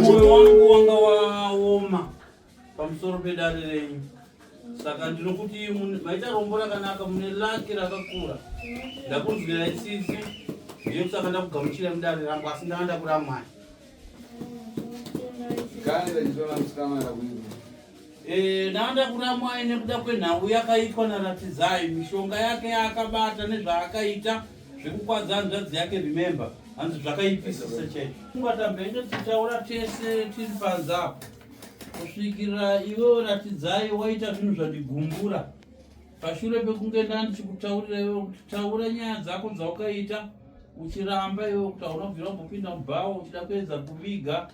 moyo wangu wanga waoma pamusoro pedare renyu saka ndinokuti maita rombo rakanaka mune laki rakakura ndakunzwira isisi ndiyo kusaka ndakugamuchira mudare rangu asi ndanga ndakuramwai Eh, Danda kuramwai nekuda kwenhau yakaitwa naRatidzai mishonga yake yaakabata nezvaakaita zvekukwadza hanzvadzi yake remember hanzi zvakaipisa sechechi ungatabhenge tichaura tese tiri panze apo kusvikira iwe ratidzai waita zvinhu zvandigumbura pashure pekunge ndandichikutaurira iwe kuti taura nyaya dzako dzaukaita uchiramba iwe kuti haunobvira umbopinda mubhawa uchida kuedza kuviga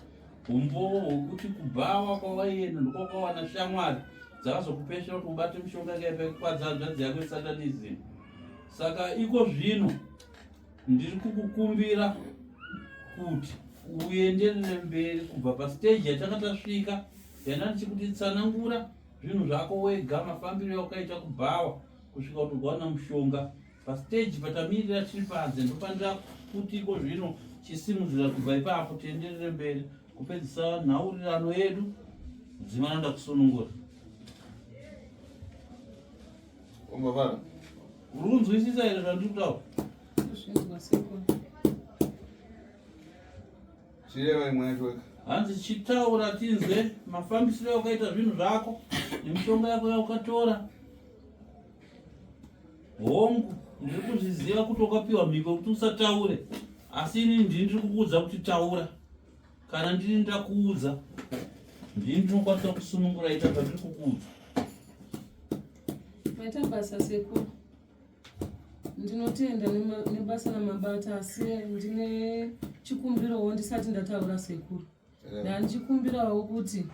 umbowo hwekuti kubhawa kwawaienda ndokwakawana shamwari dzakazokupesha kuti ubate mishonga kaipekukwadza hanzvadzi yako isatanism saka iko zvino ndiri kukukumbira kuti uenderere mberi kubva pasteji yatanga tasvika yanda ndichikuti tsanangura zvinhu zvako wega mafambiro aukaita kubhawa kusvika kuti ukawana mushonga pasteji patamirira tiri panze ndofanira kuti iko zvino chisimudzira kubva ipapo tienderere mberi kupedzisa nhaurirano yedu dzimana ndakusunungura umbavara runzwisisa here zvandiri kutaura Chireva imwe yacho weka. Hanzi chitaura tinzwe mafambisiro yaukaita zvinhu zvako nemishonga yako yaukatora. Hongu, ndiri kuzviziva kuti wakapiwa mhiko kuti usataure, asi ini ndini ndiri kukuudza kuti taura. Kana ndini ndakuudza, ndini ndinokwanisa kusunungura ita zvandiri kukuudza. Maita basa sekuru. ndinotenda nebasa ramabata asi ndine chikumbirawo ndisati ndataura sekuru eh. ndandichikumbirawo kuti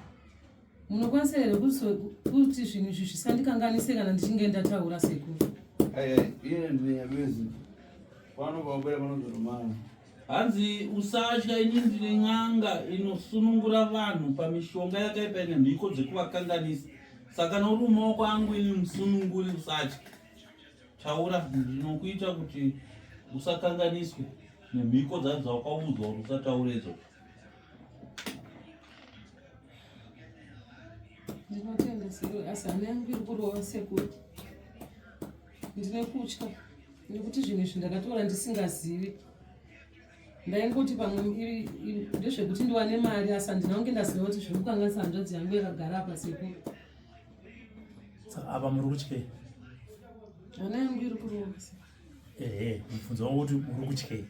munokwanisa here kuti zvinhu izvi zvisandikanganise kana ndichinge ndataura sekuru iye ndinyabizi pano paubera panozotomana hanzi usatya ini ndine n'anga inosunungura vanhu pamishonga yakaipa ine mhiko dzekuvakanganisa saka nouri mumaoko angu ini musununguri usatya taura ndinokuita kuti usakanganiswe nemhiko dzacho dzawakaudzwa kuti usataure idzo ndinotenda sekuru asi hana yangu iri kurova sekuru ndine kutya nekuti zvinhu izvi ndakatora ndisingazivi ndaingoti pamwe ndezvekuti ndiwane mari asi handina kunge ndaziva kuti zviri kukanganisa hanzvadzi yangu yakagara apa sekuru apa muri kutyei hana yangu iri kurova ehe mubvunzo wangu kuti uri kutyei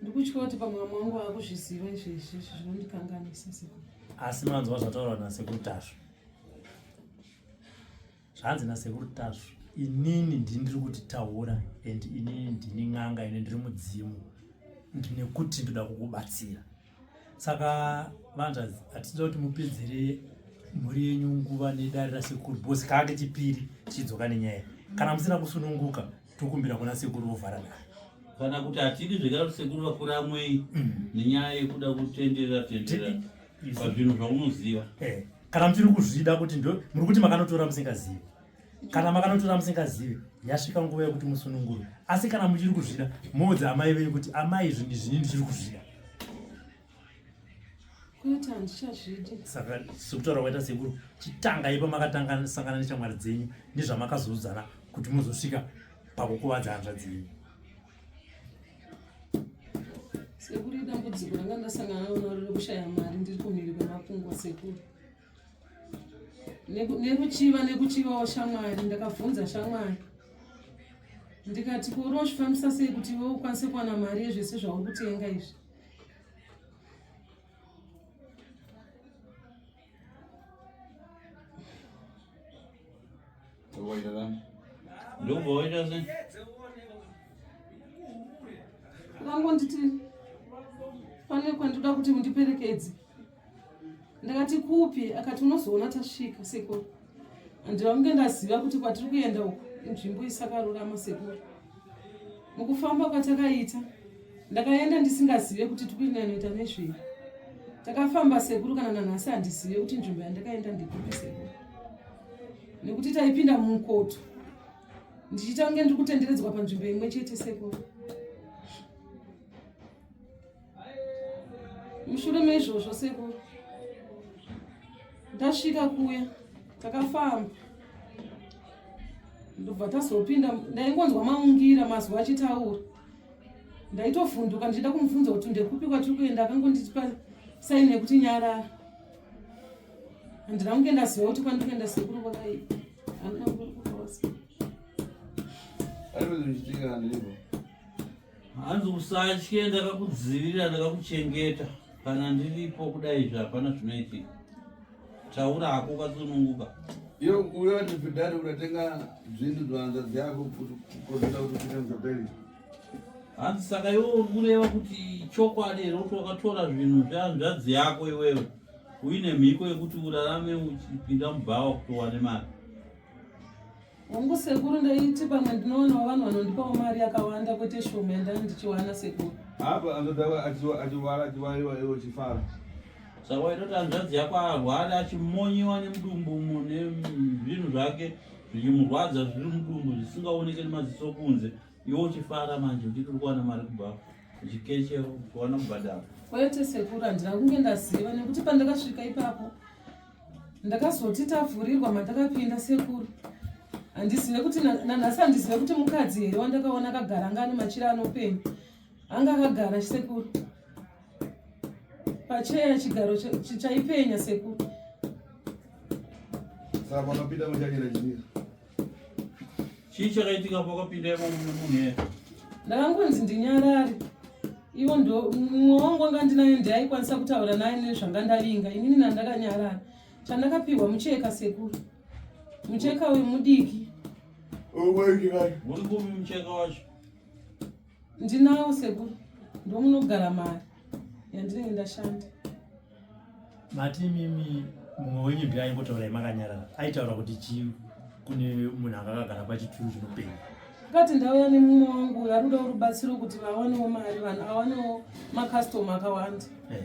ndikutya kuti pamwe vamwe wangu vakuzviziva izvezvi zvinondikanganisa sekuru asi manzwa zvataurwa nasekuru tasvo zvanzi nasekuru tasvu inini ndini ndiri kuti taura and inini ndini n'anga ine ndiri mudzimu ndinekuti ndoda kukubatsira saka vanzi hatida kuti mupedzere mhuri yenyu nguva nedare rasekuru bhosi kaa kechipiri tichidzoka nenyaya kana musina kusununguka tokumbira kuna sekuru vovhara dare kana kuti hatidi zvekare kuti sekuru vakura amwei mm. nenyaya yekuda kutenderera tenderera pazvinhu zvaunoziva eh. kana muchiri kuzvida kuti ndo muri kuti makanotora musingazivi kana makanotora musingazivi yasvika nguva yekuti musunungurwe asi kana muchiri kuzvida moudza amai venyu kuti amai zvinhu zvini ndichiri kuzvida saka sekutaura kwaita sekuru chitangai pamakatanga sangana nechamwari dzenyu nezvamakazoudzana kuti muzosvika pakukuvadza hanzva dzenyu sekuru idambudziko ranga ndasangana naro naro rekushaya mari ndiri kumhiri kwemakungwa sekuru nekuchiva nekuchivawo shamwari ndakabvunza shamwari ndikati kori wazvifambisa sei kuti iwe ukwanise kuwana mari yezvese zvauri kutenga izvi vangonditi pane kwandoda kuti mundiperekedze ndakati kupi akati unozoona tasvika sekuru Handiramge ndaziva kuti kwatiri kuenda uku inzvimbo isakarurama sekuru. Mukufamba kwatakaita ndakaenda ndisingazive kuti tikuenda inoita nezvei. Takafamba sekuru kana nanhasi handizive kuti nzvimbo yandakaenda ndikupi sekuru. Nekuti taipinda mumukoto ndichiita kunge ndiri kutenderedzwa panzvimbo imwe chete sekuru. mushure meizvozvo sekuru ndasvika kuya takafamba ndobva tazopinda ndaingonzwa maungira mazwi achitaura ndaitovhunduka ndichida kumubvunza kuti ndekupi kwatiri kuenda akangondipa saini yekuti nyarara handina kunge ndaziva kuti kwandiri kuenda sekuru kwakai handina kuaa Hanzi usatye ndakakudzivirira ndakakuchengeta kana ndiripo kudai izvi hapana zvinoitika taura hako ukasununguka iyo uyo atipidari unatenga zvinhu zvahanzvadzi yako kukozita kuti kuita mzaperi hanzi saka iwo uri kureva kuti chokwadi here kuti wakatora zvinhu zvehanzvadzi yako iwewe uine mhiko yekuti urarame uchipinda mubhawa kuti uwane mari Hongu sekuru ndaiti pamwe ndinoonawo vanhu vanondipawo mari yakawanda kwete shoma yandanga ndichiwana sekuru. Apa anodava achiwara achiwaiwa iwo chifara. Saka waitoti hanzvadzi yako arwara achimonyiwa nemudumbu umo nezvinhu zvake zvichimurwadza zviri mudumbu zvisingaoneke nemaziso kunze iwo uchifara manje uchiti uri kuwana mari kubva uchikeche uchiwana kubhadhara. Kwete sekuru handina kunge ndaziva nekuti pandakasvika ipapo ndakazoti tavhurirwa matakapinda sekuru handizive kuti nanhasi handizive kuti mukadzi here wandakaona akagara anga ane machira anopenya anga akagara sekuru pacheya chigaro chaipenya sekuru saka panopinda muchanyira chimira chii chakaitika pakapinda imomo mune munhu here ndakangonzi ndinyarari ivo ndo mumwe wangu anga ndinayo ndiaikwanisa kutaura naye nezvanga ndavinga inini nandakanyarara chandakapihwa mucheka sekuru mucheka uyu mudiki uri kupi mucheka wacho Ndinawo sekuru ndomunogara mari yandinenge ndashanda. Mati mimi mumwe wenyu ndiye aingotaurai makanyarara aitaura kuti chii kune munhu anga akagara pachituru chinopenga akati ndauya nemumwe wangu uyo ari kudawo rubatsiro kuti vawanewo mari vanhu awanewo makastoma akawanda eh.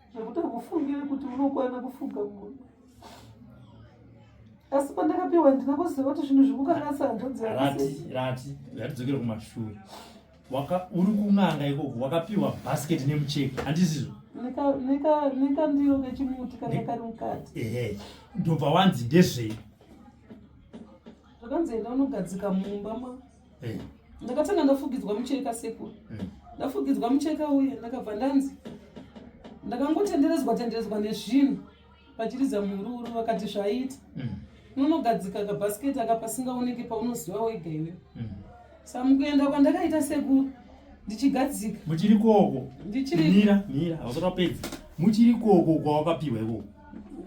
zvekuti hamufungire kuti munokwana kufuga munhu asi pandakapiwa handina kuziva kuti zvinhu zvikukanganisa hanzvadzi rati rati yatidzokere kumashure uri kun'anga ikoko wakapiwa bhasiketi nemucheki handizizvo nekandiro kechimuti kana kari mukati ehe ndobva wanzi ndezvei zvakanzi enda unogadzika mumba ma eh. ndakatanga ndafugidzwa mucheka sekuru eh. ndafugidzwa mucheka uye ndakabva ndanzi ndakangotenderedzwa tenderedzwa nezvinhu vachiriza mururu vakati zvaita mm. nonogadzika kabhasiketi aka pasingaoneke paunoziva wega iwe mm. sa mukuenda kwandakaita sekuru ndichigadzika muchiri koko ndichirimira mira hausati wapedza muchiri koko kwawakapiwa ikoko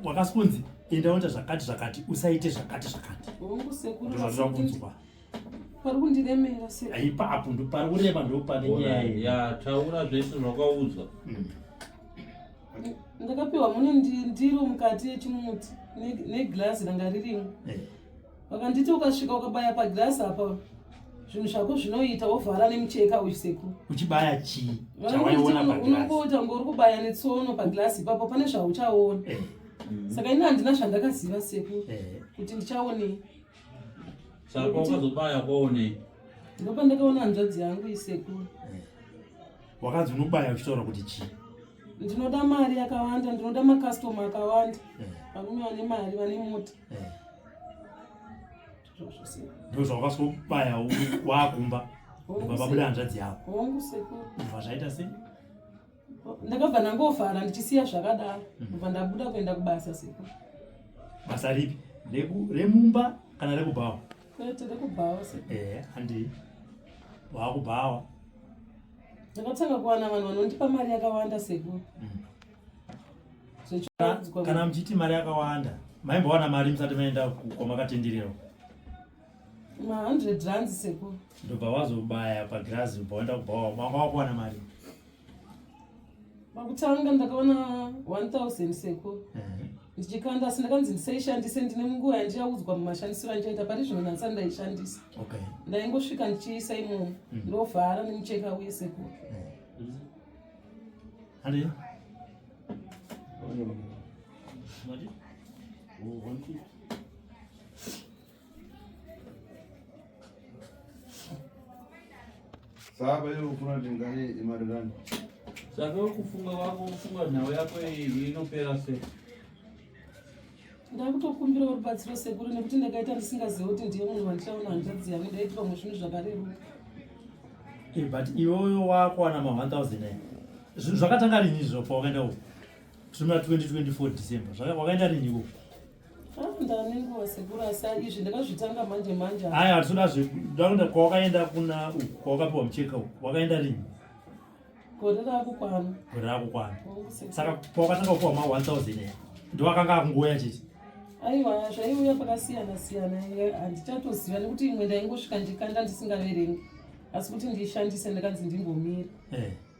wakasikonzi enda unoita zvakati zvakati usaite zvakati zvakati pari kundiremera sir aipa apo ndo pari kurema ndo pane nyaya ya taura zvese zvakaudzwa mm. ndakapiwa mune ndiro mukati yechimuti neglazi ranga ririmo eh. vakanditi ukasvika ukabaya paglazi apa zvinhu zvako zvinoita wovhara nemucheka uchiseku uchibaya chii unongoita ngori kubaya netsono paglazi ipapo pane zvauchaona eh. mm. saka ini handina zvandakaziva seku eh. kuti ndichaonei Saka wakazobaya kwaone. Ndopa ndakaona hanzvadzi yangu isekuru. Eh. Wakanzi unobaya uchitaura kuti chii? Ndinoda mari yakawanda, ndinoda makastoma akawanda. Eh. Varume vane mari, vane mota. Eh. Ndizvo zvawakazobaya wakumba. Baba buda hanzvadzi yako. Hongu sekuru. Zvazvaita sei? ndakabva ndangofara ndichisiya zvakadaro mhm. bva ndabuda kuenda kubasa siku basa ripi remumba kana rekubhawa kwete rekubhawa ee eh, handii waakubhawa ndakatanga kuwana vanhu vanondipa mari yakawanda seku mhm. kana muchiti mari yakawanda maimbowana mari musati maenda kwamakatendererwa ma100 rands seku ndobva wazobaya pagirazi bva waenda kubhawa manga wakuwana mari pakutanga ndakaona 1000 seko ndichikanda asi ndakanzi ndisaishandise ndine munguva yandichaudzwa mumashandisiro andichaita pari zvino nasa ndaishandisa ndaingosvika ndichiisa imomo mm. ndovhara nemucheka uye seko mm. Saba hiyo kuna tingani imari gani? Sasa ukufunga wako ufunga nhau yako iyi inopera sei? ndakutokumbirawo rubatsiro sekuru nekuti ndakaita ndisingazive kuti ndiye munhu wandichaona hanzvadzi yangu ndaiti vamwe zvinhu zvakareruka eh, but iwoyo wakuwana ma 1000 eh? zvinhu zvakatanga rinizvo pawakaenda uko zvimuna 2024 december wakaenda riniko aya hatisoda zvekuda kwawakaenda kuna uku kwawakapiwa mucheka uku wakaenda rini gore rakukwana gore rakukwana saka kwawakatanga kupiwa ma 1000 aya ndiwakanga akungouya chete aiwa zvaiuya pakasiyana siyana handichatoziva nekuti imwe ndaingosvika ndikanda ndisingaverengi asi kuti ndiishandise ndakanzi ndimbomira eh.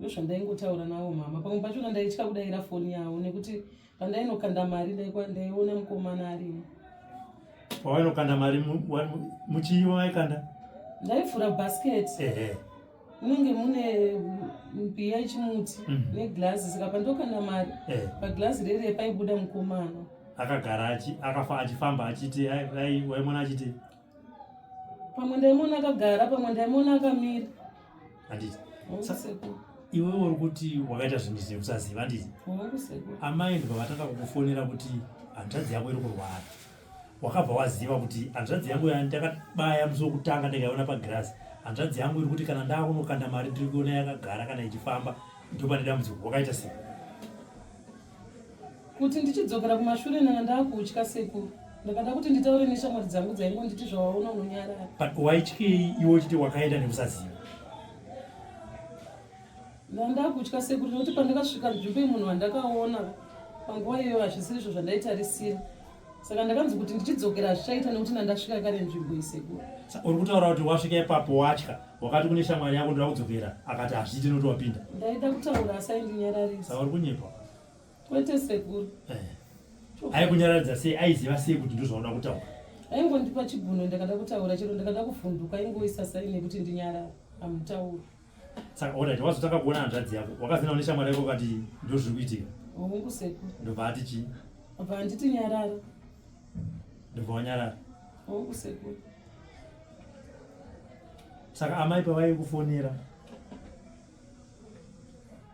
ndozvandaingotaura navo mama pamwe pachona ndaitya kudaira foni yavo nekuti pandainokanda mari ndaiona mukomana arimo pawainokanda mari muchii wawaikanda ndaivhura bhasiketi munenge mune mbiya yechimuti mhm. neglazi saka pandokanda mari paglazi rere paibuda mukomana akagara akafa achifamba achiti waimona achiti pamwe ndaimona akagara pamwe ndaimona akamira handiti iwe uri kuti wakaita zvinhu zvekusaziva handiti amai ndikavatanga kukufonera kuti hanzvadzi yako iri kurwara wakabva waziva kuti hanzvadzi yangu ndakabaya musi wekutanga ndikaiona pagirasi hanzvadzi yangu iri kuti kana ndakunokanda mari ndiri kuona yakagara kana ichifamba ndopane dambudziko wakaita sei Kuti ndichidzokera kumashure nana ndakutya sekuru. Ndakada kuti nditaure neshamwari dzangu dzaingo nditi zvawaona unonyarara. But waityei iwe uchiti wakaenda nekusaziva? Ndandakutya sekuru nekuti pandakasvika nzvimbo yemunhu wandakaona panguva iyoyo hazvisirizvo zvandaitarisira. saka ndakanzi kuti ndichidzokera hazvichaita nekuti nandasvika kare nzvimbo isekuru uri kutaura kuti wasvika ipapo watya wakati kune shamwari yako ndoda kudzokera akati hazviite nekuti wapinda ndaida kutaura asi aindinyararisa saka uri kunyepa kwete sekuru eh. aikunyararidza sei aiziva sei kuti ndozvauda kutaura aingondipa chiguno ndakada kutaura chero ndakada kuvhunduka aingoisa saine kuti ndinyarara amutauri Saka alright wazotanga kuona hanzvadzi yako wakazina une shamwari yako ukati ndozviri kuitika. Hongu seku. Ndobva ati chii? Ndobva handiti nyarara. Ndobva wanyarara. Hongu seku. Saka amai pavai kufonera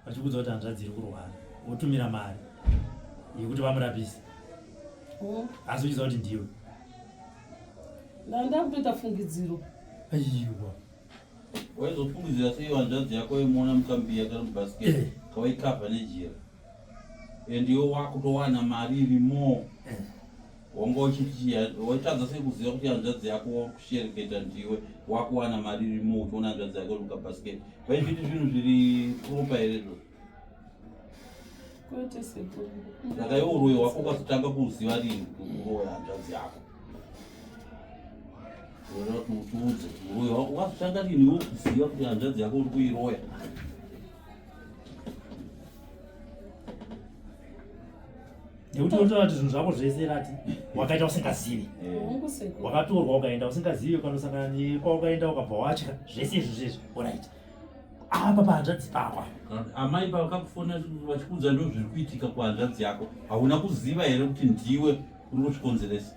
vachikudza kuti hanzvadzi iri kurwara votumira mari yekuti vamurapise. Hongu. Asi uchiziva kuti ndiwe. Ndandakutoita fungidziro. Aiwa. waizofungidzira sei hanzvadzi yako imuona mukambiya kana mubasket eh. kawaikavha nejira and iwe wakutowana mari iri more eh. wanga uchiti waitadza sei kuziva kuti hanzvadzi yako wakushereketa ndiwe wakuwana mari iri more uchiona hanzvadzi yako iri mukabasket vaizviti zvinhu zviri propa here zvo Kwete sekuru. Saka iwe uroyi wako ukazotanga kuziva rinhi kuroya hanzvadzi yako. Unoda kuti utiudze uroyi wako ukazotanga rinhi iwe kuziva kuti hanzvadzi yako uri kuiroya. nekuti unotaura kuti zvinhu zvako zvese rati wakaita usingazivi Hongu sekuru. wakatorwa ukaenda usingazivi ukanosangana nekwaukaenda ukabva watya zvese izvi zvizvi orit apa pahanzvadzi pako amai pavakakufona vachikuudza ndo zviri kuitika kuhanzvadzi yako hauna kuziva here kuti ndiwe uri kuzvikonzeresa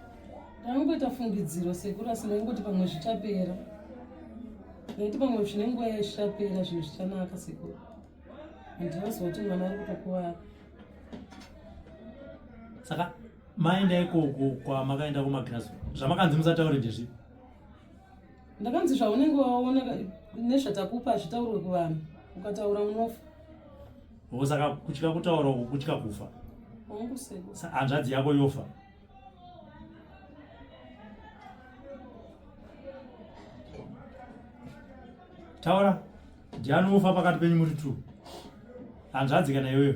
ndaingoita fungidziro sekuru asi ndaingoti pamwe zvichapera ndaiti pamwe zvine nguva yaichapera zvinhu zvichanaka sekuru handinoziva kuti mwana ari kutokuvara saka maenda ikoko kwamakaenda kumagirazi zvamakanzi musataure ndezvipi ndakanzi zvaunenge waona nezvatakupa hazvitaurwe kuvanhu ukataura unofa o saka kutya kutaura uku kutya kufa hanzvadzi yako yofa taura ndiani wofa pakati penyu muri two hanzvadzi kana iyoyo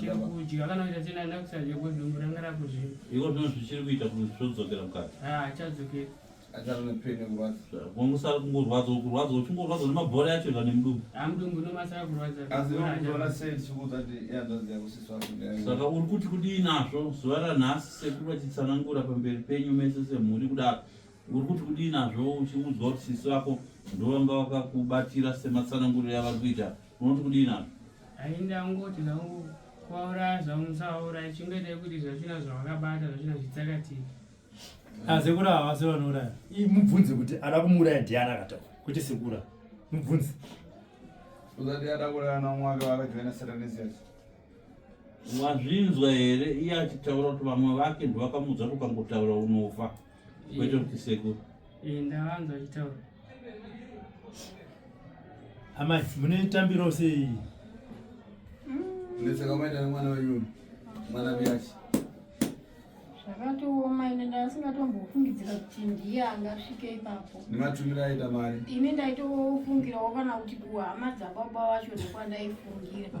chiri kudya kana kuita chena enda kusadya ko dumbu ranga rakuzvimba iko ndizvo zvichiri kuita kuti zvodzokera mukati ha ah, chadzokera achava nepene kurwadza kungosara kungorwadza kurwadza uchingorwadza nemabhora yacho ika nemudumbu amudumbu ah, nomasara kurwadza asi unoona sei tichikuudza kuti iyandanzi yakusiswa saka uri kuti kudii nazvo zuva ranhasi sekuru vachitsanangura pamberi penyu mese semhuri kudaro uri kuti kudii nazvo uchiudzwa kuti sisi vako ndovanga vakakubatira sematsananguriro yavari kuita unoti kudii nazvo Ainda ngoti zvangu kwaura zvangu musaura chingoitai kuti zvachina zvavakabata zvachina zvitsakatiki asekura ah, havasi vanouraya mubvunze kuti ada kumuuraya ndiani akataura kuti sekura mubvunze uzati ada kuraya namwaka vakajoina satanisias wazvinzwa here iye achitaura kuti vamwe vake ndovakamuudza kuti ukangotaura unofa Waitwa ndisekuru. Eh, ndavanzwa achitaura. Amai, mune tambiro sei? Ndisaka mm. maita nemwana wenyu. Mwana biyachi. Zvakatooma ine ndasingatombofungidzira kuti ndiye angasvike ipapo. Ndimatumira aita mari. Ini ndaitofungirawo kana kuti kuhama dzababa vacho ndokwandaifungira.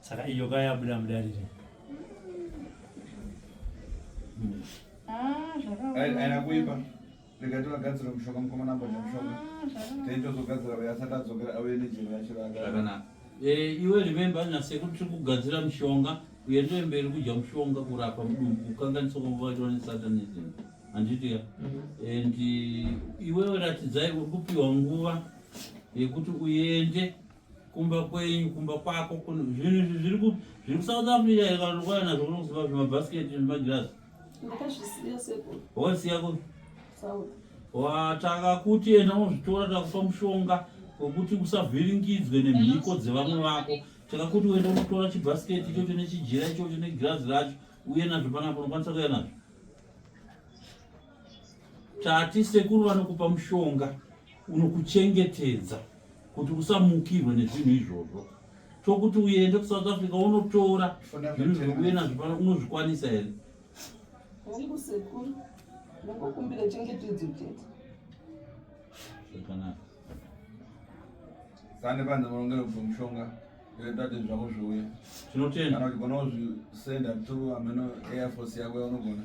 Saka iyo kaya yabuda mudarire. Ah, zvakaoma. Aina kuipa. Rega tivagadzira mushonga mukomana amboda mushonga. Ah, Taitozogadzira uya asati adzokera auye nejeri yacho rakanaka. Eh, iwe remember na sekuru tiri kugadzira mushonga kuenderera mberi kudya mushonga kurapa mudumbu kukanganisa kwavo vacho vane satanism handiti ka and iwe ratidzai uri kupiwa nguva yekuti uende kumba kwenyu kumba kwako zvinhu izvi zviri ku zviri kusouth africa here kana unokwaya nazvo kuno kuziva zvimabhasiketi zvemagirazi wosiya ku wataka kuti enda unozvitora takupa mushonga wekuti usavhiringidzwe nemhiko dzevamwe vako takakuti uenda unotora chibhasiketi ichocho nechijira ichocho negirazi racho uye nazvo panapa unokwanisa kuya nazvo Tati sekuru vanokupa mushonga unokuchengetedza kuti usamukirwe nezvinhu izvozvo tokuti uende kusouth africa unotora zvinhu zvekuuye nazvo pano unozvikwanisa here hongu sekuru ndokukumbira chengetedzo chete zvakanaka sane panze vaongere kubva mushonga yotate zvako zviuye tinotenda kana kuti gona kuzvisenda through ameno airforce yako yaunogona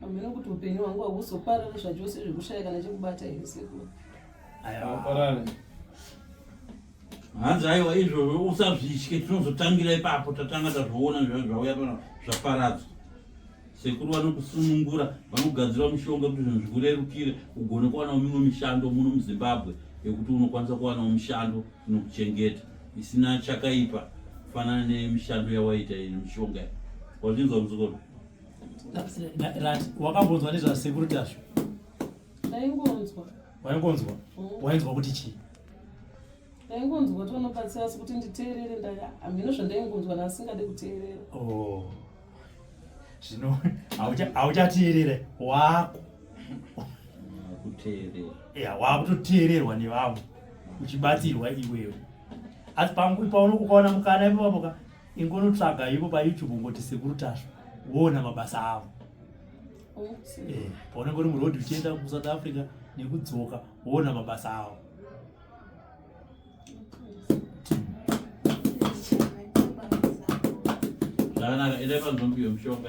Hameno kuti upenyu hwangu hakuzoparari zvachose zvekushaya kana chekubata here sekuru? Haparari. Hanzi aiwa izvozvo usazvitye tinozotangira ipapo tatanga tazviona zvauya pano zvaparadzwa. Sekuru vanokusunungura vanogadzira mushonga kuti zvinhu zvikurerukire ugone kuwanawo mimwe mishando muno muZimbabwe yekuti unokwanisa kuwanawo mushando inokuchengeta isina chakaipa kufanana nemishando yawaita iyi nemishonga iyi. Wazvinzwa mudzukuru? wakambonzwa nezvasekuru tashu ndaingonzwa waingonzwa mm. wainzwa kuti chii ndaingonzwa kuti vanobatsira asi kuti nditeerere hamhino zvandaingonzwa naasingade kuteerera oh. zvino hauchateerere wako ya wakutoteererwa nevamwe uchibatsirwa iwewe asi panguvi paunokukaona mukana ipapapoka ingonotsvaga ivo payoutube ungoti sekuru tasva woona mabasa avo oh, eh, paunenge uri muroad uchienda kusouth africa nekudzoka woona mabasa avo zvakanaka endai panzombiyo mushonga